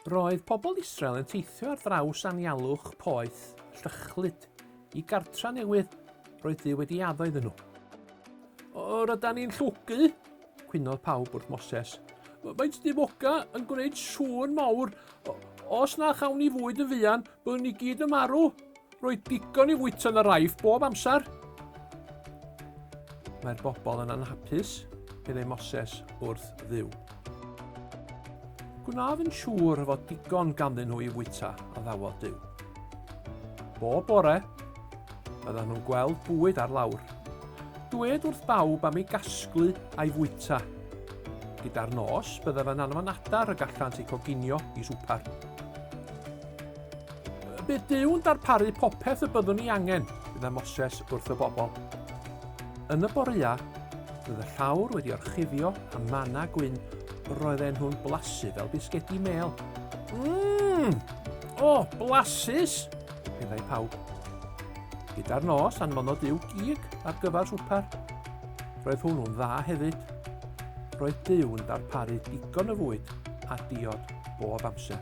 Roedd pobl Israel yn teithio ar draws anialwch poeth llychlyd i gartra newydd roedd Duw wedi addo iddyn nhw. O, ryda ni'n llwgu, cwynodd pawb wrth Moses. Faint dim oga yn gwneud sŵn mawr. Os na chawn ni fwyd yn fuan, Bwn ni gyd yn marw. Roedd digon i fwyta yn yr aif bob amser. Mae'r bobl yn anhapus, meddai Moses wrth ddiw. Gwnaf yn siŵr fod digon ganddyn nhw i fwyta, a ddawodd Dyw. Bob bore, byddan nhw'n gweld bwyd ar lawr. Dwed wrth bawb am ei gasglu a'i fwyta. Gyda'r nos, byddaf yn anfon adar y gallant ei coginio i swper. Bydd Duw'n darparu popeth y byddwn ni angen, fydda Moses wrth y bobl. Yn y boreau, bydd y llawr wedi orchuddio a manna gwyn, roedden nhw'n blasu fel bisgedi mel. Mmm! O, oh, blasus! meddai pawb. Gyda'r nos anfonodd Duw gig ar gyfer swper. Roedd hwnnw'n dda hefyd. Roedd Duw yn darparu digon o fwyd a diod bob amser.